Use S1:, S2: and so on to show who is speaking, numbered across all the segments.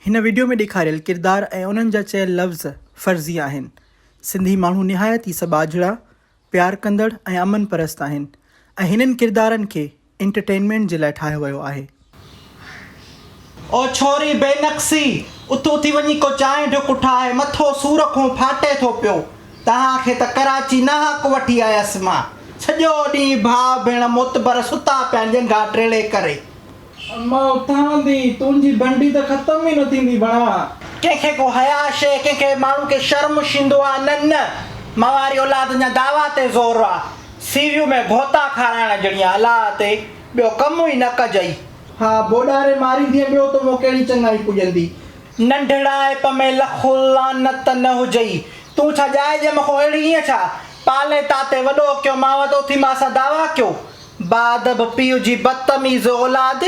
S1: هن وڊيو ۾ ڏيکاريل ڪردار ۽ انهن جا چيل لفظ فرضي آهن. سنڌي ماڻهو نهايت ئي سٻاجهڙا، پيار ڪندڙ ۽ امن پرست آهن ۽ هنن ڪردارن کي انٽرٽينمينٽ جي لاء ٺاهيو ويو آهي.
S2: او ڇوري بي نقصي! اتو ٿي وڃي ڪو چانهه ڍڪ ٺاهه، مٿو سور کون ڦاٽي ٿو پيو. توهان کي ته ڪراچي ناحق وٺي آيس مان. سڄو ڏينهن ڀاء ڀيڻ معتبر ستا پيا ڄنگها ٽيڙي ڪري. امان
S3: اٿان وندي تنهنجي ڀنڊي ته ختم ئي نه ٿيندي ڀڻا. ڪنهن کي ڪو حياء
S2: شيء ڪنهن کي ماڻهو کي شرم شيندو آ نه نه مواري اولادن جا دعويٰ تي زور آ سي ويو ۾ ڀوتا کارائڻ جهڙيان الاء تي ٻيو ڪم ئي نه ڪجئي. ها ٻوڏاري
S3: ماريندينء ٻيو تو مان ڪهڙي چڱائي پڄندي. ننڍڙائپ
S2: ۾ لک لعنت نه هجئي تون ڇا ڄائي ڄم کان اهڙي ايئن ڇا پالي تاتي وڏو ڪيو ماء وٽ اٿي ماء سان دعويٰ ڪيو باادب پيء جي بدتميز اولاد.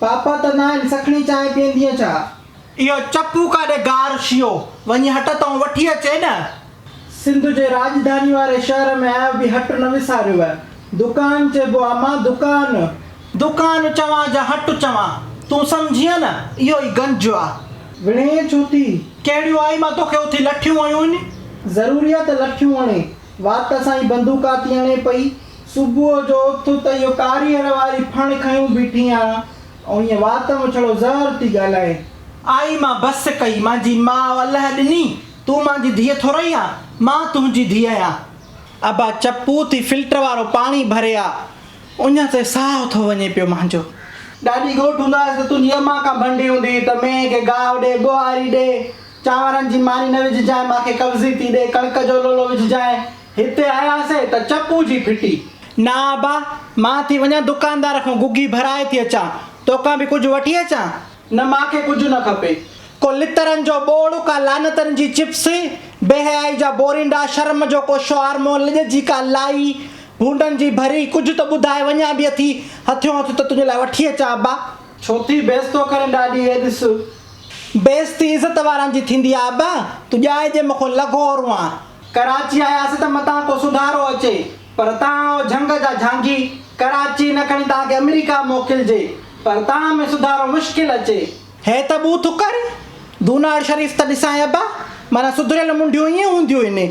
S2: پاپا
S3: ته ناهن، سکڻي چانهه پيئندينء ڇا؟ اهو چپو
S2: ڪاڏي گار شيو، وڃي هٽ تئون وٺي اچي نه. سنڌ جي
S3: راڄڌاني واري شهر ۾ آيو به هٽ نه وساريو ويو. دڪان چئبو آ مان، دڪان.
S2: دڪان چوان جا هٽ چوان، تون سمجهينء نه، اهو ئي گنج آ. وڙهينء ڇو ٿي؟
S3: ڪهڙيون آئي مان
S2: توکي اٿي لٺيون هيون ني. ضروري آ ته
S3: لٺيون وڻين. وات سائين بندوقا ٿي هڻي پئي. صبح جو اٿ ته اهو ڪاريهر واري ڦڻ کنيون بيٺي آن ۽ ايئن وات ۾ ڇڙو زهر ٿي ڳالهائين. آئي مان
S2: بس ڪئي. مانجي ماء الله ڏني. تون مانجي ڌيء ٿورئي آن. مان تنهنجي ڌيء آهيان. ابا چپو ٿي فلٽر وارو پاڻي ڀري آ. اڃا تائين ساهه ٿو وڃي پيو مانجو. ڏاڏي ڳوٺ
S3: هونداس ته تنهنجي امان کان ڀنڊي هوندي هئي ته مينهن کي گاهه ڏي، ٻوهاري ڏي، چانورن جي ماني نه وجهجانء، ماکي قبضي ٿي ڏي، ڪڻڪ جو لولو وجهجانء، هتي آياسين ته چپو جي ڦٽي. نه ابا،
S2: مان ٿي وڃان دڪاندار کان گگهي ڀرائي ٿي اچان، توکان به ڪجهه وٺي اچان؟ نه ماکي ڪجهه
S3: نه کپي. ڪو لترن
S2: جو ٻوڙ، ڪا لعنتن جي چپس، بي حيائي جا بورينڊا، شرم جو ڪو شعارمو، لڄ جي ڪا لائي، ڀونڊن جي ڀري، ڪجهه ته ٻڌاء وڃان به اٿي، هٿيون هٿ ته تنهنجي لاء وٺي اچان ابا. ڇو ٿي بيستو
S3: ڪرين ڏاڏي، هي ڏس. بيعزتي
S2: عزت وارن جي ٿيندي آ ابا تون ڄائي جي مونکون لگهو اروان. ڪراچي آياسين
S3: ته متان ڪو سڌارو اچي پر تان او جهنگ جا جهانگي ڪراچي نه کڻي تان کي امريڪا موڪلجي پر تان ۾ سڌارو مشڪل اچي. هي ته ٻوٿ
S2: ڪر دوناڙ شريف ته ڏسانء ابا معنيٰ سڌريل منڍيون ائين هونديون هين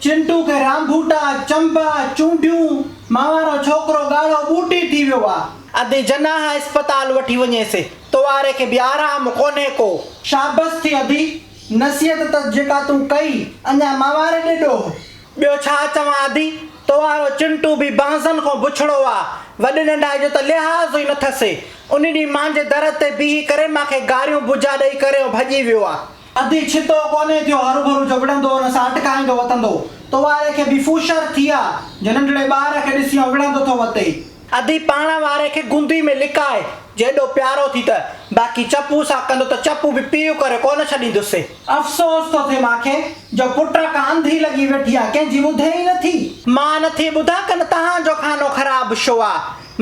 S2: چنٽو کي
S3: رانڀوٽا، چنبا، چونڊيون، ماوارو ڇوڪرو ڳاڙهو ٻوٽي ٿي ويو آ. ادي جناح
S2: اسپتال وٺي وڃيس. تواري کي به آرام ڪونهي ڪو. شابس ٿي ادي،
S3: نصيحت تس جيڪا تون ڪئي، اڃا ماواري ڏي ڏوهه. ٻيو ڇا
S2: چوان ادي، توارو چنٽو به بانسن کان بڇڙو آ، وڏي ننڍائي جو ته لحاظ ئي نٿس. انهي ڏينهن مانجي در تي بيهي ڪري مان کي گاريون بجا ڏئي ڪريو ڀڄي ويو آ. ادي ڇتو
S3: ڪونهي ٿيو، هروڀرو جهڳڙندو ان سان اٽڪائيندو وتندو تو واري کي بي فوشر ٿي آ، جو ننڍڙي ٻار کي ڏسي ائين وڙهندو ٿو وتي. ادي پاڻ
S2: واري کي گوندي ۾ لڪائي، جي ايڏو پيارو ٿي ته، باقي چپو سان ڪندو ته چپو به پيء ڪري ڪونه ڇڏيندس. افسوس ٿو ٿئي
S3: مان کي، جو پٽ ڪا انڌي لڳي ويٺي آ، ڪنهن جي ٻڌي ئي نٿي. مان نٿي ٻڌان
S2: ڪنه تهان جو خانو خراب شو آ،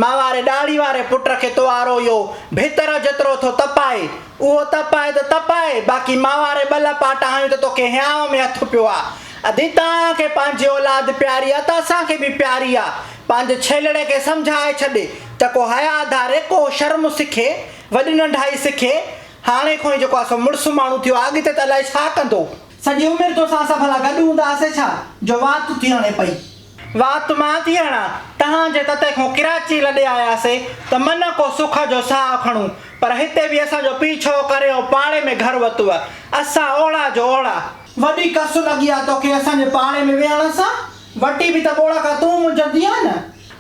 S2: مان واري ڏاڙهي واري پٽ کي تو آرو اهو ڀتر جيترو ٿو تپائي، اهو تپ آهي ته تپ آهي، باقي ماء واري ٻه لپاٽا هڻيون ته توکي هيانء ۾ هٿ پيو آ. ادي تانء کي پنهنجي اولاد پياري آ ته اسان کي به پياري آ. پنهنجي ڇيلڙي کي سمجهائي ڇڏ ته ڪو حياء ڌاري، ڪو شرم سکي، وڏي ننڍائي سکي. هاڻي کون ئي جيڪو آ سو مڙس ماڻهو ٿيو آ، اڳتي ته الائي ڇا ڪندو. سڄي عمر توسان
S3: اسان ڀلا گڏ هوندا هئاسي ڇا، جو وات ٿي هڻي پئي. وات مان
S2: ٿي هڻان، تهان جي تتي کون ڪراچي لڏي آياسي ته من ڪو سک جو ساهه کڻون، پر هتي به اسان جو پي ڇو ڪري او پاڙي ۾ گهر وتوء، اسان اوڙا جو اوڙا. وڏي ڪس
S3: لڳي آ توکي اسان جي پاڙي ۾ ويهڻ سان، وٽي به ته ٻوڙ کان تون منجهندي آ نه.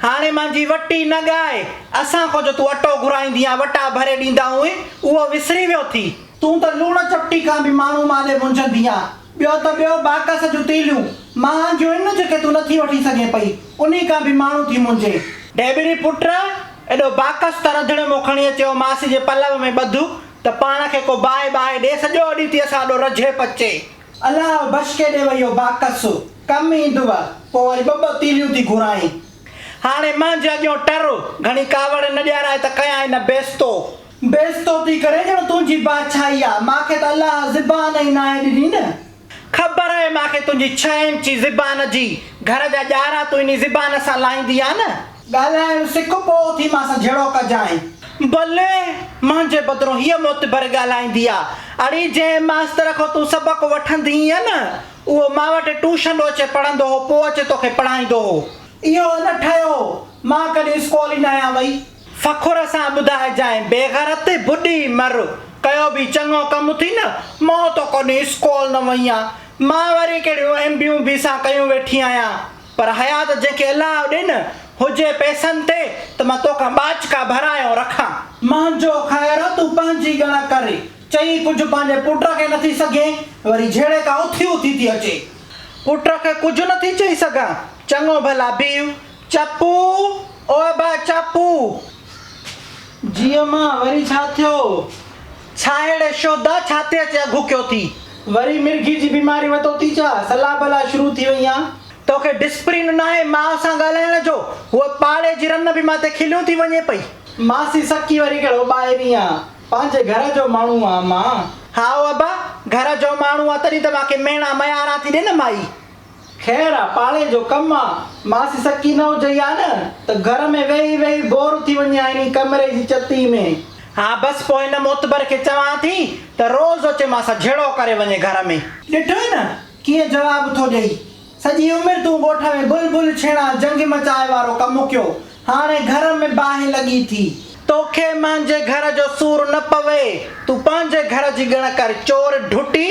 S3: هاڻي مانجي
S2: وٽي نه ڳائي، اسان کون جو تون اٽو گهرائيندي آ، وٽا ڀري ڏيندا هئين، اهو وسري ويو ٿي. تون ته لوڻ
S3: چپٽي کان به ماڻهو مالي منجهندي آ. ٻيو ته ٻيو باڪس جون تيليون، ماهن جون ان جيڪي تون نٿي وٺي سگهين پئي، انهي کان به ماڻهو ٿي منجهين. ڍيٻري پٽ!
S2: ايڏو باڪس ته رڌڻي مون کڻي اچيو ماسي جي پلو ۾ ٻڌو ته پاڻ کي ڪو باهه ٻاهه ڏي، سڄو ڏينهن ٿي اسان آڏو رجهي پچي. الله
S3: بش ڪيڏي وئي اهو باڪس، ڪم ايندوء، پوء وري ٻه ٻه تيليون ٿي گهرائين. هاڻي
S2: منجهه اڳيون ٽر، گهڻي ڪاوڙ نه ڏيارانء ته ڪيانء نه بيستو. بيستو ٿي
S3: ڪرين ڄڻ تنهنجي بادشاهي آ. مان کي ته الله زبان ئي ناهي ڏني نه. خبر آهي
S2: مان کي تنهنجي ڇهه انچي زبان جي. گهر جا ڄارا تون انهي زبان سان لائيندي آ نه. ڳالهائڻ سک
S3: پوء اٿي مان سان جهيڙو ڪجانء. بلي!
S2: مانجهي بدرون هيء معتبر ڳالهائيندي آ. اڙي جنهن ماستر کان تون سبق وٺندي هئين نه، اهو مان وٽ ٽوشن به اچي پڙهندو هو پوء اچي توکي پڙهائيندو هو. اهو نه ٺهيو
S3: هو. مان ڪڏهن اسڪول ئي ناهيان وئي. فخر سان
S2: ٻڌائجانء بيغرت ٻڏي مر ڪيو به چڱو ڪم اٿئي نه مئو تو ڪڏهن اسڪول نه وئي آن مان وري ڪهڙيون ايم بيون به سان ڪيون ويٺي آهيان پر حيات جنهن کي الله ڏين هجي پئسن تي ته مان توکان ٻاچڪا ڀرايو رکان. منهنجو خير
S3: تون پنهنجي ڳڻ ڪر چئي ڪجهه پنهنجي پٽ کي نه ٿي سگهين وري جهيڙي کان اٿي اٿي ٿي اچين. پٽ کي
S2: ڪجهه نه ٿي چئي سگهان چڱو ڀلا بيهه چپو، او ابا چاپو!
S3: جيء مان وري ڇا ٿيو؟
S2: ڇاهيڙ يشودا ڇا ٿي اچي اگهو ڪيو ٿي؟ وري مرگي
S3: جي بيماري وتو ٿي ڇا؟ صلاح بلاح شروع ٿي وئي آ. توکي ڊسپرين
S2: ناهي ماء سان ڳالهائڻ جو؟ هوء پاڙي جي رن به مان تي کليون ٿي وڃي پئي. ماسي سڪي
S3: وري ڪهڙو ٻاهرين آ. پنهنجي گهر جو ماڻهو آ مان. هائو ابا،
S2: گهر جو ماڻهو آ تڏهن ته مان کي ميڻا مياران ٿي ڏي نه مائي. خير آ،
S3: پاڙي جو ڪم آ. ماسي سڪي نه هجئي آ نه ته گهر ۾ ويهي ويهي بور ٿي وڃي آ انهي ڪمري جي چتي ۾. ها بس پوء هن
S2: معتبر کي چوان ٿي ته روز اچي مان سان جهيڙو ڪري وڃي گهر ۾. ڏٺوئي نه
S3: ڪيئن جواب ٿو ڏئي. سڄي عمر تون ڳوٺ ۾ بلبل ڇيڻا جهنگ مچائي وارو ڪم ڪيو، هاڻي گهر ۾ باهه لڳي ٿي. توکي مانجهي
S2: گهر جو سور نه پوي، تون پانجهي گهر جي ڳڻ ڪر، چور ڍٽي.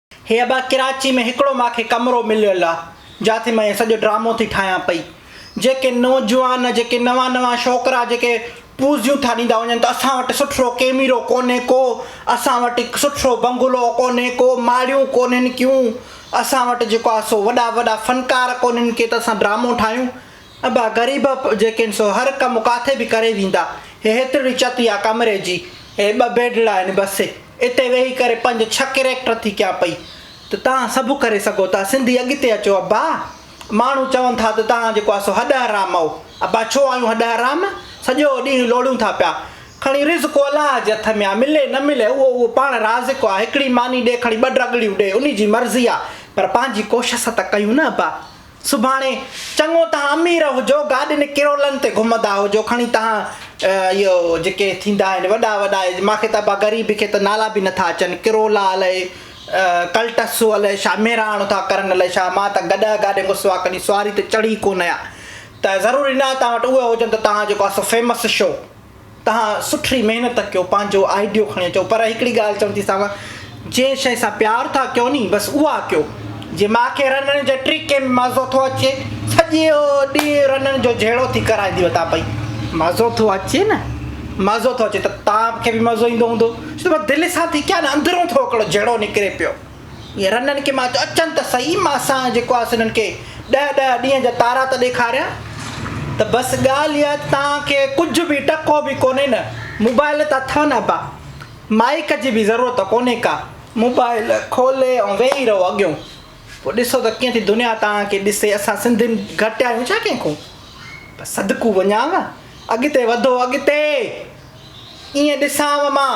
S2: هي ابا ڪراچي ۾ هڪڙو ماکي ڪمرو مليل آ جاٿي مان هي سڄو ڊرامو ٿي ٺاهيان پئي جيڪي نوجوان جيڪي نوان نوان شوڪرا جيڪي پوزيون ٿا ڏيندا وڃن ته اسان وٽ سٺرو ڪيميرو ڪونهي ڪو اسان وٽ سٺرو بنگلو ڪونهي ڪو ماڙيون ڪونهن ڪيون اسان وٽ جيڪو آ سو وڏا وڏا فنڪار ڪونهن ڪي ته اسان ڊرامو ٺاهيون ابا غريب جيڪين سو هر ڪم ڪاٿي به ڪري ويندا هي هيترڙي چت يا ڪمري جي هي ٻه بيڊڙا آهن بس اتي ويهي ڪري پنج ڇهه ڪريڪٽر ٿي ڪيان پئي ته توهان سڀ ڪري سگهو ٿا سنڌي اڳتي اچو ابا ماڻهو چون ٿا ته توهان جيڪو آهي سو هڏ حرام آهو ابا ڇو آهيون هڏ حرام سڄو ڏينهن لوڙيون ٿا پيا کڻي رزق الله جي هٿ ۾ آهي ملي نه ملي اهو اهو پاڻ رازق آهي هڪڙي ماني ڏي کڻي ٻه ڊڳڙيون ڏي انهي جي مرضي آهي پر پنهنجي ڪوشس ته ڪيون نه ابا. سڀاڻي چڱو تهان امير هجو، گاڏين ڪرولن تي گهمندا هجو، کڻي تهان اهو جيڪي ٿيندا آهن وڏا وڏا ايج ماکي ته ابا غريب کي ته نالا به نٿا اچن، ڪرولا الائي ڪلٽسو الائي ڇا مهراڻو ٿا ڪرن الائي ڇا، مان ته گڏهه گاڏين کان سواء ڪڏهن سواري تي چڙهي ئي ڪونه آهيان ته ضروري ناهي تهان وٽ اهي هجن ته تهان جيڪو آهي سو فيمس شو. توهان سٺري محنت ڪيو پنهنجو آئيڊيو کڻي اچو پر هڪڙي ڳالهه چوڻ ٿي چاهيان جنهن شئي سان پيار ٿا ڪيو ني بس اها ڪيو جي مان کي رنن جي ٽري ڪي ۾ مزو ٿو اچي سڄيو ڏينهن رنن جو جهيڙو ٿي ڪرائيندي وتان پئي مزو ٿو اچي نه مزو ٿو اچي ته توهان کي به مزو ايندو هوندو ته مان دل سان ٿي ڪيان نه اندرون ٿو هڪڙو جهيڙو نڪري پيو ائين رنن کي مان چيو، اچن ته سهي، مان سانء جيڪو آهيس انهن کي ڏهه ڏهه ڏينهن جا تارا ته ڏيکاريان ته بس ڳالهه اها ته توهان کي ڪجهه به ٽڪو به ڪونهي نه، موبائيل ته اٿو نه ابا، مائيڪ جي به ضرورت ڪونهي ڪا، موبائيل کولي ۽ ويهي رهو اڳيون، پوء ڏسو ته ڪيئن ٿي دنيا توهان کي ڏسي، اسان سنڌين گهٽ آهيون ڇا ڪنهن کون؟ پر صدقو وڃانء، اڳتي وڌو اڳتي، ائين ڏسانء مان.